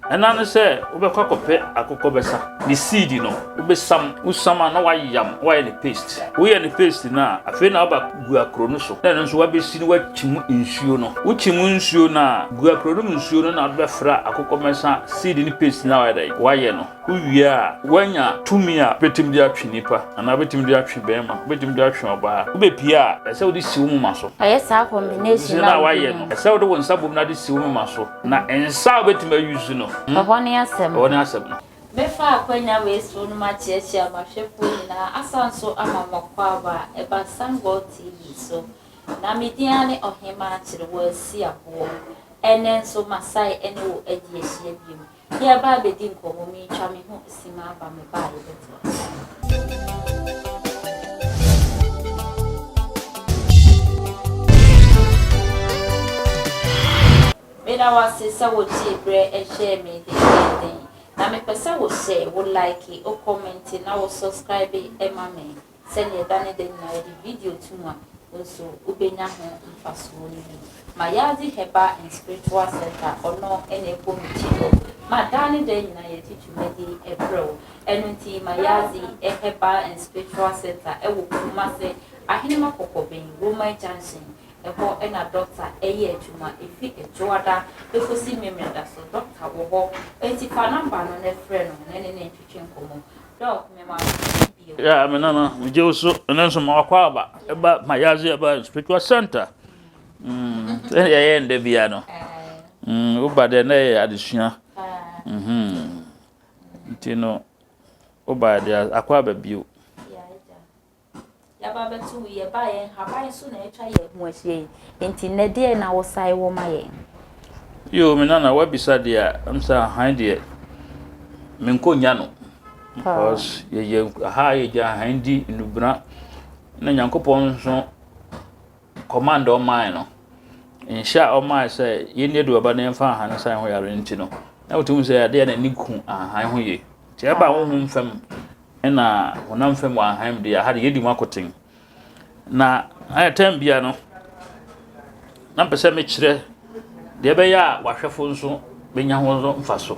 Ɛna ne sɛ wobɛkɔ akɔpɛ akokɔ bɛsa. Ne seed no wobɛsam. Wosam a na woayam na woayɛ no paste. Woyɛ no paste no a, afei na woaba gu akuro no so na ɛno nso woabɛsi na woakyim nsuo no. Wokyim nsuo no a, gu akuro no mu nsuo no na wode bɛfra akokɔ bɛsa seed no paste no a woayɛ dɛn? Woayɛ no. Wowie a, woanya tumi a wobɛtumi de atwe nipa anaa wobɛtumi de atwe barima, wobɛtumi de atwe ɔbaa. Wobɛpue a, ɛsɛ sɛ wode si wo moma so. Ɛyɛ saa combination no a woayɛ no. Ɛsɛ sɛ wode wo nsa bom na de si wo moma so. Na nsa a wobɛtumi a use no. Ɛhɔ ne asɛm no. Ɛhɔ ne asɛm no. Mɛfa akwanya wei so no makyeakyea mahwɛfoɔ nyinaa asan nso ama mo kwaaba a ɛba Sun World TV so. Na me din ara ne Ɔhemaa Kyerewaasi Aboɔ. Ɛnnɛ nso masae ɛne wo adi ahyia biom. Yɛreba abɛdi nkɔmmɔ, meretwa me ho. si ma aba me ba a yɛbɛto ase. Meda wo ase sɛ wotie berɛ ɛhyɛɛ me dendeenden. Na mepɛ sɛ wohyɛ, wo like, wo comment na wo subscribe ma me. sɛdeɛ da ne da nyinaa yɛde video tom a, wo nso wobɛnya ho mfasoɔ no bi. Mayadze Herbal and Spiritual Centre, ɔno na ɛbɔ me ti hɔ ma daa ne da nyinaa yɛde dwumadi brɛ wo. Ɛno nti Mayadze Herbal and Spiritual Centre ɛwɔ Kumase, Ahenema Kɔkɔben, Roman Junction, ɛhɔ na dɔkta ɛyɛ adwuma, ɛfiri Ɛdwoada bɛkɔsi Memeneda so, dɔkta wɔ hɔ. Enti fa nɔmba no na frɛ no na ne ne ntwetwe nkɔmmɔ. Yeah, me nana, me gye wo so, ɛno nso ma wakɔ aba, ɛba ma yɛadze ɛba spiritual center. Mm, sɛ yɛyɛ ndɛ bia no, mm, woba dɛ na ɛyɛ adesua. Mhm. Nti no, woba dɛ akɔ aba bio. Yɛaba abɛto wo yi, ɛbaa yɛn nhaban so na atwa yɛn ho ahyia yi, enti nnɛ deɛn na wosae wɔ ma yɛn? Yoo, me nana, woabisa deɛ a, ɛm sɛ ahan deɛ, menkɔ nya no. Because yɛyɛ ha a, yɛgya ahan di, nnubena, na Nyankopɔn nso. Kɔmand a ɔmae no, nhyɛ a ɔmae sɛ yɛnni aduaba na yɛmfa nhahan nsan ho yare no nti no, na wotumi sɛ adeɛ a n'ani ku nhahan ho yie. Nti ɛba honhom fam na honam fam wɔ nhahan mu deɛ, aha de yɛdi mu akoten. Na ayɛ tɛm bia no, na mpɛ sɛ mekyerɛ deɛ ɛbɛyɛ a wahwɛfo nso bɛnya ho mfaso.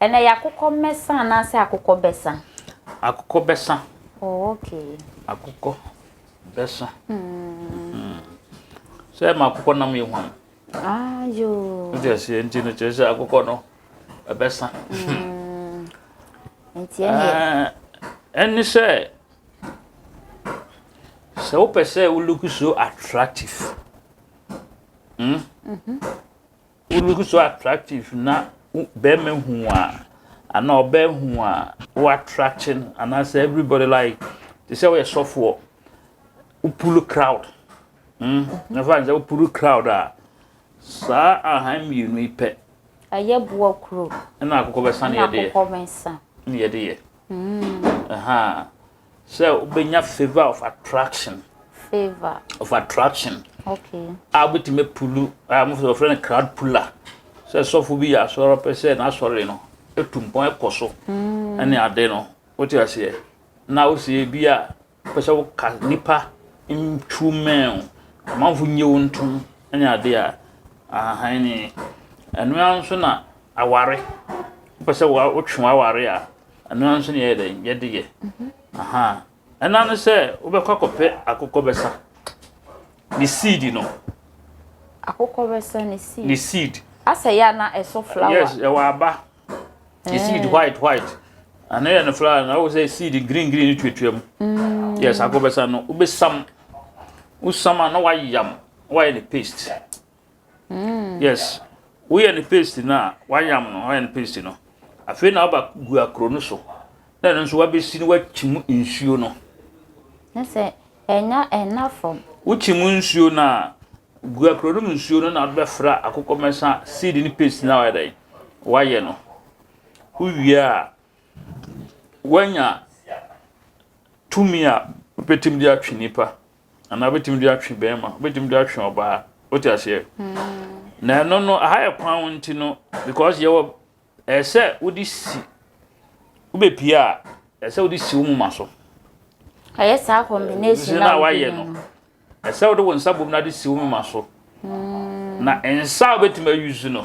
Ɛnɛ yɛ akokɔ mmɛsa anaasɛ akokɔ bɛsa? Akokɔ bɛsa. Oh, okay. Akokɔ bɛsa. Mm. Sɛ ɛma akokɔ nam yɛ hwan? Ah, yoo. Nti ɛsɛ nti no kyerɛ sɛ akokɔ no ɛbɛsa. Mm. Nti ɛnɛ. Ah, ɛne sɛ sɛ wopɛ sɛ wo look so attractive. Mm. Mm -hmm. Wo look so attractive na bɛrima hu a anaa ɔbaa hu a wo attract no anaasɛ everybody like te sɛ woyɛ sɔfoɔ wo pull crowd mm nafa sɛ wo pull crowd a saa ahan mmienu yi pɛ. ɛyɛ boɔ kuro ɛna akokɔ bɛsa ne yɛde yɛ ne yɛde yɛ ɛha. Sɛ wobɛnya favour of attraction. Favour. Of attraction. Okay. A wobɛtumi pulu a wɔfrɛ no crowd puller. Sɛ sɔfo bi yɛ asɔre pɛ sɛ n'asɔre no etu mpɔn ɛkɔ so. Mm. Ɛne ade no wote aseɛ na wosie bi a pɛ sɛ woka nipa ntwu mɛn amanfo nye wo ntom ɛne ade a ahan ne ɛno ara nso na aware wopɛ sɛ wotwe waware a Ɛno ara nso na yɛyɛ dɛn yɛde yɛ. Aha. Ɛna no sɛ wobɛkɔ akɔpɛ akokɔbɛsa ne seed no. Akokɔbɛsa ne seed. Ne seed. Asɛ yɛ na ɛso flower. Yes, ɛwɔ aba. Ne eh. seed white white. Ano yɛ no flower na wo sɛ seed green green tuatua mu. Mm. Yes, akokɔbɛsa no wobɛsam. Wosam a na wayam, wayɛ ne paste. Yes, woyɛ no paste no a, wayam no, wayɛ no paste no. Afei na aba gu akoro no so. Na ɛno nso wabɛsi no wakyim nsuo no. Ne sɛ ɛnya ɛna fam. Wokyim nsuo no a, gu akoro no mu nsuo no na wode bɛfra akokɔmɛsa seed ne paste no a wayɛ dɛn? Wayɛ no. Wowie a, wanya tumi a wobɛtumi de atwe nipa. Anaa wobɛtumi de atwe bɛrima, wobɛtumi de atwe ɔbaa. Wote aseɛ? Na ɛno no, aha yɛ kwan nti no, because yɛwɔ ɛsɛ wode si wobɛpie a ɛsɛ wode si wo moma so. Ɛyɛ saa combination na wayɛ no. Ɛsɛ wode wo nsa bom na de si wo moma so. Na nsa a wobɛtumi ayusu no,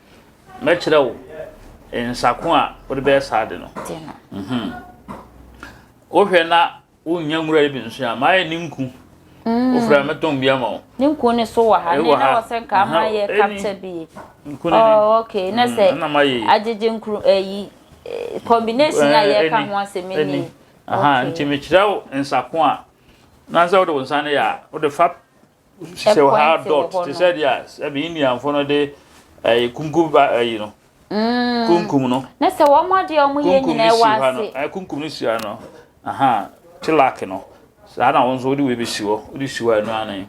Mɛkyerɛ wo nsa ko a wode bɛyɛ saa ade no. Wohwɛ na wonnya nwura yi bi nso a, mayɛ ne nku. Mm. Wofrɛ a mɛtɔn bi ama wo. Ne nku ne so wɔ ha, ne na wɔ sɛ nka ama yɛ kapta bi. Nku ne ne. Oh, okay, na mm, sɛ agyegye nkuru ayi, eh, eh, combination a eh, yɛka ho asɛm ni. Aha, nti mekyerɛ wo nsa ko a, na sɛ wode wo nsa no yɛ a, wode fa Hyehyɛ wɔ ha dot te sɛ deɛ sɛ me Indianfo no de ɛyɛ kunkum ba ɛyi no. Kunkum no. Ne sɛ wɔn adeɛ wɔn yɛ nyinaa ɛwɔ ase. Ɛyɛ kunkum no si ha no. Aha tilak no. Saa na wɔn nso wɔde wei bɛsi hɔ. Wɔde si hɔ a ɛno ara ne.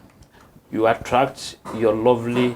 You attract your lovely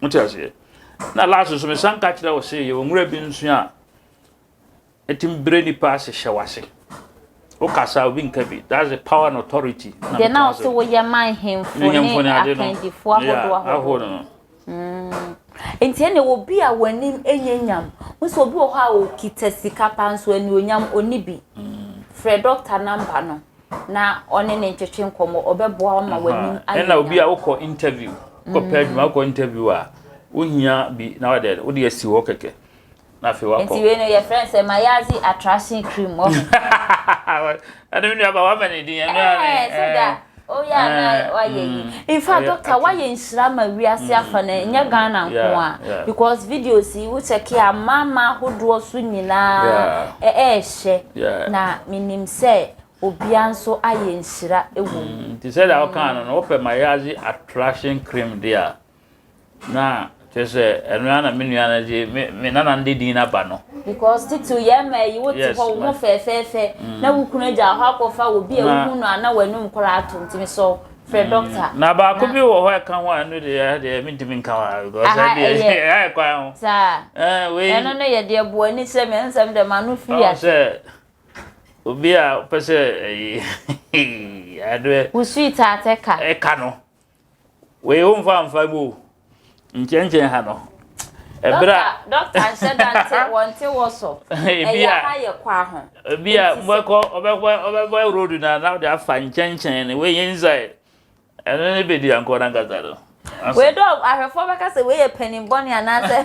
Mote aseɛ? Na last nso mesan ka kyerɛ wo se yɛwɔ nwura bi nso a ɛtumi brɛ nipa ase hyɛ w'ase. Wokasa obi nka bi. That's the power and authority. Deɛ na ɔse woyɛ ma nhemfo ne akandifoɔ ahodoɔ ahodoɔ no. Mm. Nti ɛne obi a w'anim ɛnyɛ nyam. Wo sɛ obi wɔ hɔ a ɔkita sika paa nso anuonyam ɔni bi. Mm. Frɛ dɔkta namba no. na ɔne ne ntwetwe nkɔmmɔ ɔbɛboa wo ma w'anim ayɛ ɛna obi a wokɔ interview wokɔpɛ mm. adwuma wokɔ interview a wohia bi na wode wode asi hɔ kɛkɛ na afei wakɔ nti wei no yɛfrɛ no sɛ mayazi attraction cream wɔ ɛno me nuaba woama ne din ɛno a ne sɛ da oyɛ ana wayɛ yi in fact doctor wayɛ nhyira ma wiase mm, afa no ɛnyɛ mm, ghana nko a because videos yi wokyɛke a mama ahodoɔ so nyinaa ɛɛhyɛ kyɛ, na minim sɛ obiara nso ayɛ nhyira wɔ mu. Nti sɛdeɛ wokaa no no, wopɛ mayaazi attraction cream deɛ a, na kyerɛ sɛ ɛno ara na me nua no de, me me nana no de din no aba no. Because titiriw yɛn mmaa yi, wote Yes, hɔ, wo ma- ho fɛɛfɛɛfɛ, na wo kunu agyaw hɔ akɔfa obi a Ná- wohu no a na w'anum koraa ato, nti mesɔ wo Frɛ mm. doctor. Na baako bi wɔ hɔ ɛka ho a ɛno deɛ ɛyɛ deɛ ɛmi ntumi nka ho a because ɛyɛ deɛ ɛyɛ ayɛ kwan ho. Saa. Ɛɛ wei. Ɛno no yɛ deɛ bu ani sɛ mi ɛnsɛm dɛm ano fi yɛ. Ɔsɛ obi a ɔpɛ sɛ ɛyi adeɛ. Wusui taate ka. Ɛka no wei o nfa nfa mu o. Nkyɛnkyɛn ha no, ɛberɛ a. Dɔkta, dɔkta nhyɛ da nte wɔnte wɔ so. Ɛyɛ ha yɛ kwa ho. Ebi a mobɛkɔ ɔbɛkɔ ɔbɛbɔ road na na ɔde afa nkyɛnkyɛn no wei yɛ inside ɛno ne bedi ankɔ n'ankasa no. Wei dɔ ahwɛfoɔ bɛka sɛ wei yɛ panin bɔne anaasɛ.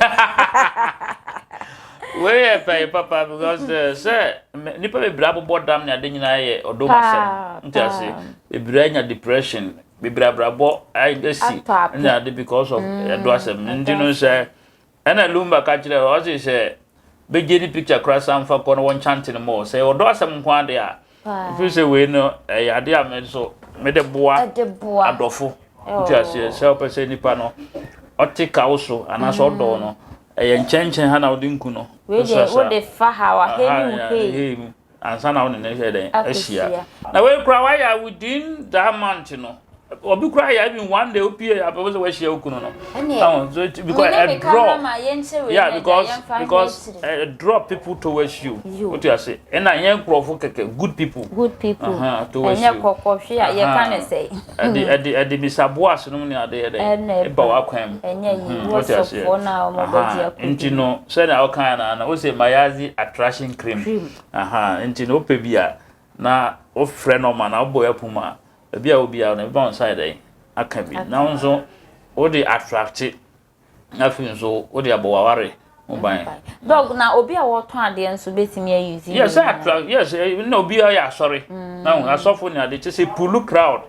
Wei yɛ pɛn papa because eh, sɛ nipa bebree abobɔ dam ne ade nyinaa yɛ ɔdom asɛm nti ase bebree anya depression bebree abrabɔ asi ɛna ade because of mm, ɛdo asɛm nti no sɛ ɛna lumba ka kyerɛ ɔse sɛ bɛgye ne picture kora san fa kɔ no wɔnkyante no ma ɔ sɛ ɔdɔ asɛm nko ade a mfiri sɛ wei no ɛyɛ ade a me nso mede boa adɔfo nti aseɛ sɛ wopɛ sɛ nipa no ɔte ka wo so anaasɛ ɔdɔ mm. no ɛyɛ nkyɛnkyɛn ha na wode nku no wode fa ha wahɛ ne mu hei Ansa na wo ne no yɛ dɛn? Ahyia. Na wei koraa wayɛ a within that month no. Obi koraa yɛ even one day opie a bɛbɔ sɛ wahyia wo kunu no. Ɛho so it because a draw. Yeah because because a draw people towards you. Wote ase? Ɛna ɛnyɛ nkurɔfo kɛkɛ good people. Good people. Ɛnyɛ kɔkɔhwe a yɛka no sɛn? Ɛde ɛde ɛde bisa Boas nom ne ade yɛ dɛ? Ɛna Eba ɛba. w'akwan mu. Ɛnyɛ yie. Mhm, wote aseɛ? Wɔsɔfoɔ no a wɔn Aha, bɛgye akodi Nti no. no, sɛnea wokaeɛ no ara no, wose Mayazi attraction cream. Cream. Aha, nti no wopɛ bi a, na wofrɛ no ɔma no a, wobɔ yɛ pon mu a, baabi a ɛwɔ biara no, ɛbɛba wo nsa ayɛ dɛn? Aka bi. Na wo nso, wode attracte. Na afei nso wode abɔ w'aware ho ban. Dog na obi a wɔtɔn adeɛ nso bɛtumi ayi zi. Yes, atra yes eh, na obi a ɔyɛ asɔre. Mm. Na asɔfo ne ade kyɛ sɛ pulu crowd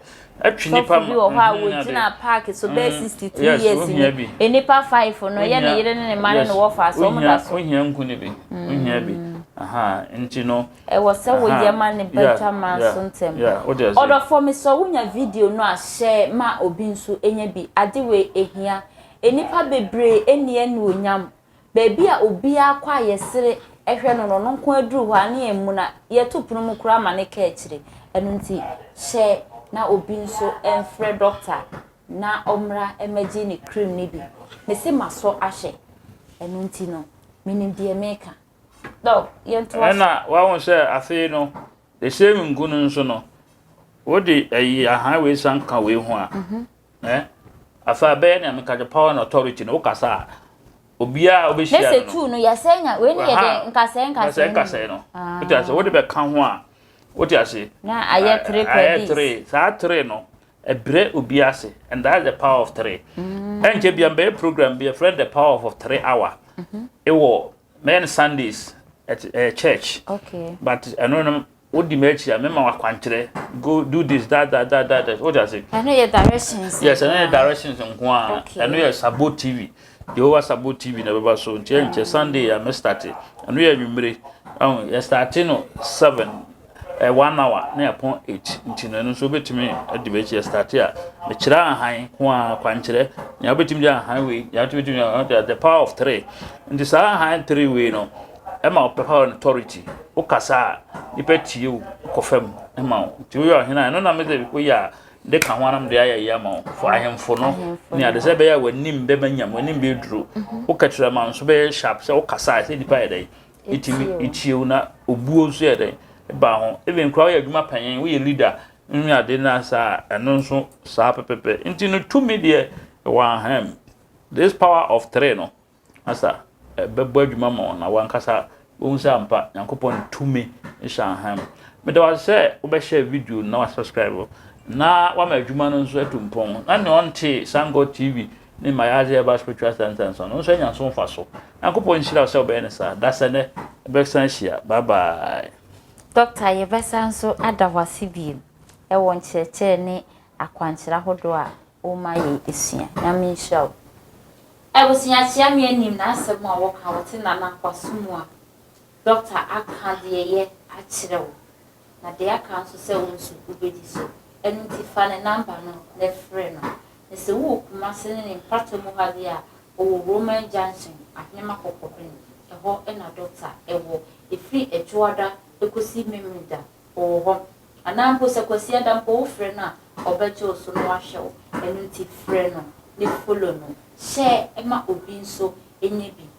atwi nipa ma. Sɔfo bi wɔ hɔ a mm-hmm, wɔgyina paaki so bɛyɛ mm, sixty two years ni. E nipa five no yɛ ne yere ne ne ma ne ne wɔfa so wɔn da so. Ohia nku ne bi. Ohia bi. Aha nti no. Ɛwɔ sɛ wo yɛ ma ne ba twa mmra so ntɛm. Ɔdɔfoɔ me sɔ wo nya video no a share ma obi nso nya bi ade wei ɛhia nnipa bebree ɛnni anuonyam baabi a obiara kɔ a yɛsere ɛhwɛ no no ɔno nko ara duru hɔ a ne yɛ muna yɛto pono mu koraa ma ne ka akyire ɛno nti share na obi nso ɛmfrɛ doctor na ɔmmra ɛmɛgye ne cream no bi me se ma sɔ ahwɛ ɛno nti no menim deɛ meka. Ɛna wahu sɛ afei no the same ngu no nso no wode ayi ahan wei san ka wei ho a mhm. eh, afei abɛyɛ nea meka the power and authority no wokasa a obiara wobɛhyia no no tu no yɛsɛ nya wei ne yɛ dɛ nkasɛɛ nkasɛɛ nkasɛɛ no ah. wote ase wode bɛka ho a wote ase na ayɛ tere pɛ ayɛ tere saa tere no Ɛbrɛ obi ase and that's the power of three. Ɛnkyɛ bia mbɛyɛ program bi ɛfrɛ the power of three hour. Ɛwɔ mɛyɛ no Sundays at uh, church. Okay. But ɛno no wodi m'akyi a mɛma wakwankyerɛ go do this that that that that that wodi ase. Ɛno yɛ directions. Yes, ɛno yɛ directions nko a. Okay. Ɛno yɛ Sabo TV. Jehovah Sabo TV na ɛbɛba so nti ɛnkyɛ Sunday a mɛ start. Ɛno yɛ anwummere. Ɛho yɛ start no seven. one hour ne ɛpon eight nti no ɛno nso wobɛtumi de bɛ kyerɛ start a mekyerɛ ahan ko a kwankyerɛ nea wobɛtumi de ahan wei nea wobɛtumi de uh, the power of three nti saa ahan three wei no ɛma wo power and authority wokasa a nipa tie wo kɔ fam ɛma wo nti woyɛ ɔhene a ɛno na mede woyɛ a de ka ho anam de ayɛ yɛ ama wo fo ahemfo no ne ade sɛ bɛyɛ a w'anim bɛma nyam w'anim bɛduro mhm. wokatirama nso bɛyɛ sharp sɛ wokasa a ɛsɛ nipa yɛ dɛn etumi etie wo na obuo nso yɛ dɛn ba ho even koraa woyɛ adwuma panyin woyɛ leader ne ade no asa a ɛno nso saa pɛpɛpɛ nti no tumi deɛ ɛwɔ ahem this power of three no asa ɛbɛbɔ adwuma ma wɔn na wankasa wɔn sɛ ampa nyankopɔn tumi hyɛ ahem meda wa sɛ wobɛhyɛ video na wa subscribe na wama adwuma no nso atu mpɔn na nea ɔnte sango tv Ne mma yɛ adze a ɛba Spiritual Center nso no nso anya so mfaso. Nyankopɔn nhyira wo sɛ wobɛyɛ no saa. Da sɛ nnɛ, yɛbɛsan ahyia. Bye bye. Doctor yɛbɛsan so ada wo ase bio wɔ nkyerɛkyerɛ ne akwankyerɛ ahodoɔ a woma yɛ sua. Nyame nhyira wo. Abusua kyia me anim na asɛm a woka wote nana kwaso mu a Dɔkta aka deɛ yɛ akyerɛ wo, na deɛ aka nso sɛ wo nso wobɛdi so. Ɛno nti fa ne namba no na frɛ no. Na sɛ wowɔ Kumase ne ne mpratɔ mu ha deɛ a, ɔwɔ Roman Junction, Ahenema Kɔkɔbene, ɛhɔ na dɔkta wɔ. Ɛfiri Adwoada kɔsi Memeneda, ɔwɔ hɔ. Anaa mpo sɛ Kwasiada mpo wofrɛ no a, ɔbɛgye wo so na wahwɛ wo. Ɛno nti frɛ no, ne follow no. Hyɛ ma obi nso nyɛ bi.